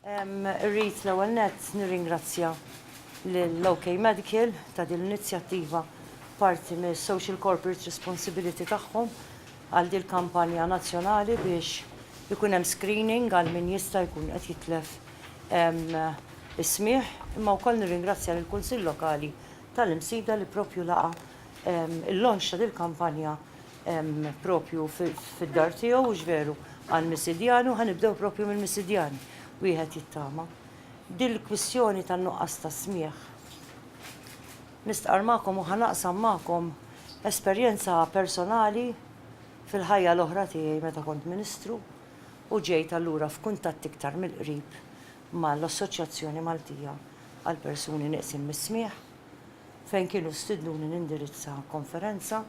Rrit l-ewwel nett nirringrazzja lill-OK Medical ta' din l-inizjattiva parti mis social corporate responsibility tagħhom għal din kampanja nazzjonali biex ikun hemm screening għal min jista' jkun qed jitlef is-smigħ, imma wkoll nirringrazzja lill-Kunsill Lokali tal-Imsida li propju laqa' Il-launch ta' dil-kampanja propju fid-dar tiegħu, hux veru, għal Misidjani u ħa nibdew propju mill-Misidjani, wieħed jittama. Dil-kwistjoni tan-nuqqas ta' smigħ, nistqarr magħkom u ħa naqsam magħkom esperjenza personali fil-ħajja l-oħra tiegħi meta kont Ministru u ġejt allura f'kuntatt iktar mill-qrib mal-Assoċjazzjoni Maltija għall-Persuni Nieqsin mis-Smigħ. fejn kienu stidnuni nindirizza konferenza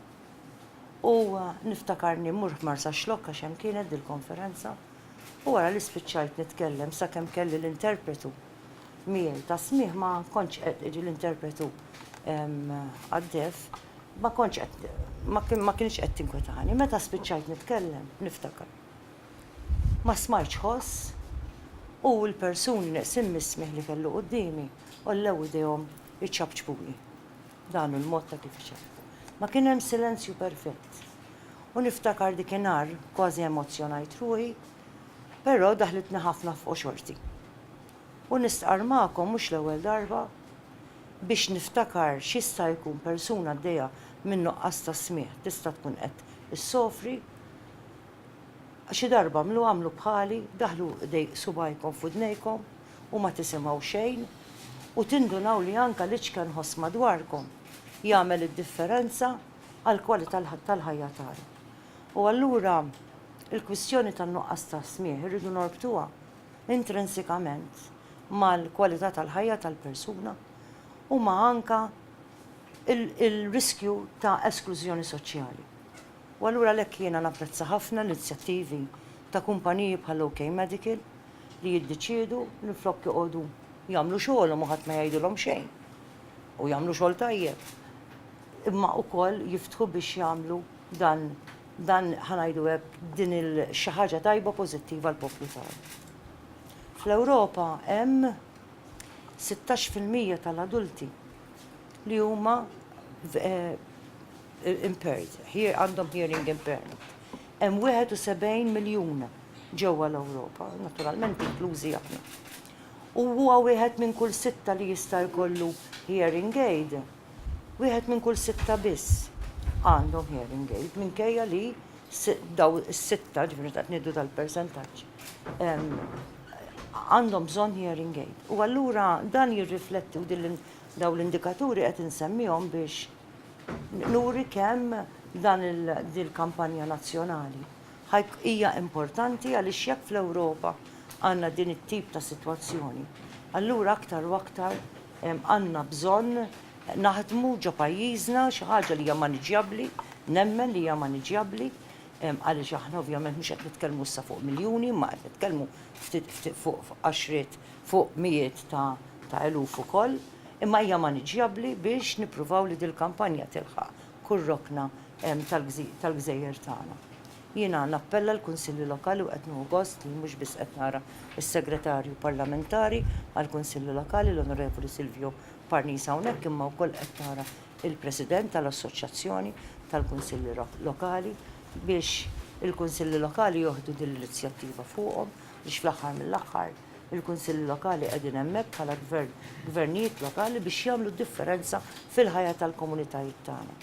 u niftakarni mmur f'Marsaxlokk għax hemm kienet dil-konferenza u wara li spiċċajt nitkellem sakemm kelli l-interpretu miegħi tas-smigħ ma kontx qed jiġi l-interpretu għad-deaf ma kontx qed ma kienx qed tinkwetani. Meta spiċċajt nitkellem niftakar. Ma smajtx ħoss, u l-persuni neqsin mis-smigħ li kellu quddiemi għollew idejhom iċapċpuli. Dan hu l-mod ta' kif iċapċpu. Ma kien hemm silenzju perfett. U niftakar dik inhar kważi emozzjonajt ruħi, però daħlitni ħafna f'qoxorti. U nistqarr magħkom mhux l-ewwel darba biex niftakar x'jista' jkun persuna għaddejja minn nuqqas ta' smigħ tista' tkun qed issofri, Xi darba għamlu għamlu bħali, daħħlu idejk subgħajkom f'widnejkom u ma tisimgħu xejn u tindunaw li anke l-iċken ħoss madwarkom jagħmel id-differenza għall-kwalità tal-ħajja tagħna. U allura l-kwistjoni tan-nuqqas ta' smigħ irridu norbtuha intrinsikament mal-kwalità tal-ħajja tal-persuna u ma' anke l-riskju ta' esklużjoni soċjali. U allura għalhekk jiena napprezza ħafna l-inizjattivi ta' kumpaniji bħal OK Medical li jiddeċiedu minflok joqogħdu jagħmlu xogħolhom u ħadd ma jgħidilhom xejn u jagħmlu xogħol tajjeb imma wkoll jiftħu biex jagħmlu dan dan ħa ngħidu hekk din il xi ħaġa tajba pożittiva għall-poplu tagħna. Fl-Ewropa hemm sittax fil-mija tal-adulti li huma impaired, għandhom hearing impairment. Hemm 71 miljun ġewwa l-Ewropa, naturalment inklużi aħna. U huwa wieħed minn kull sitta li jista' jkollu hearing aid, wieħed minn kull sitta biss għandhom hearing aid minkejja li daw is-sitta ġifieri qed ngħidu tal-persentaġġ għandhom bżonn hearing aid. U allura dan jirrifletti u din daw l-indikaturi qed insemmihom biex nuri kemm dan din il-kampanja nazzjonali hija importanti għaliex jekk fl-Ewropa għandna din it-tip ta' sitwazzjoni, allura aktar u aktar għandna bżonn naħdmu ġo pajjiżna xi ħaġa li hija maniġjabbli, nemmen li hija maniġjabbli, għaliex aħna ovvjament mhux qed nitkellmu issa fuq miljuni imma qed nitkellmu ftit fuq għaxriet, fuq mijiet ta' eluf ukoll. Imma hija maniġjabbli biex nippruvaw li dil-kampanja tilħaq kull rokna tal-gżejjer tagħna. Jiena nappella l-Kunsilli Lokali u qed nieħu gost li mhux biss qed nara s-Segretarju Parlamentari għall-Kunsilli Lokali l-Onorevoli Silvio Parnis hawnhekk imma wkoll qed nara l-President tal-Assoċjazzjoni tal-Kunsilli Lokali biex il-Kunsilli Lokali joħdu din l-inizjattiva fuqhom biex fl-aħħar mill-aħħar Il-Kunsilli Lokali qegħdin hemmhekk bħala gvern, gvernijiet lokali biex jagħmlu d-differenza fil-ħajja tal-komunitajiet tagħna.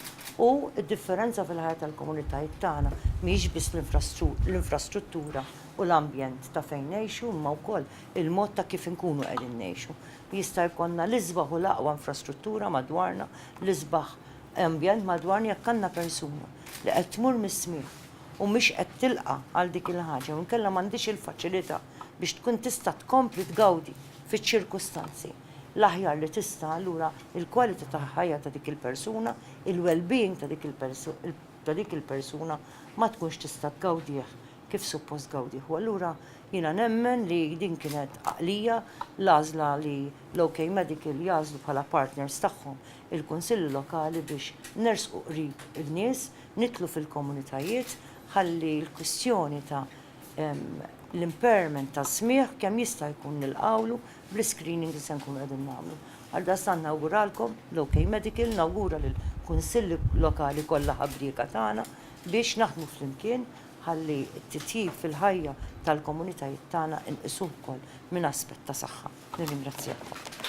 U d-differenza fil-ħajja tal-komunitajiet tagħna mhijiex biss l-infrastruttura u l-ambjent ta' fejn ngħixu imma wkoll il-mod ta' kif inkunu qegħdin ngħixu. Jista' jkollna l-isbaħ u l-aqwa infrastruttura madwarna, l-isbaħ ambjent madwarna jekk għandna persuna li qed tmur mis-smigħ, u mhix qed tilqa' għal dik il-ħaġa jew inkella m'għandhiex il-faċilità biex tkun tista' tkompli tgawdi fiċ-ċirkustanzi l-aħjar li tista' allura l-kwalità ta' ħajja ta' dik il-persuna, il-wellbeing ta' dik ta' dik il-persuna ma tkunx tista' tgawdih kif suppost tgawdih u allura jiena nemmen li din kienet għaqlija l-għażla li l-OK Medical jagħżlu bħala partners tagħhom il-Kunsilli Lokali biex nersqu qrib in-nies nidħlu fil-komunitajiet ħalli l-kwistjoni ta' l-impairment tas-smigħ kemm jista' jkun nilqgħulu bl-iscreening li se nkunu qegħdin nagħmlu. Għaldaqstant nawguralkom l-OK Medical, nawgura lill-Kunsilli Lokali kollha ħabrieka tagħna biex naħdmu flimkien ħalli t-titjib fil-ħajja tal-komunitajiet tagħna nqisuh ukoll minn aspett ta' saħħa. Nirringrazzjakom.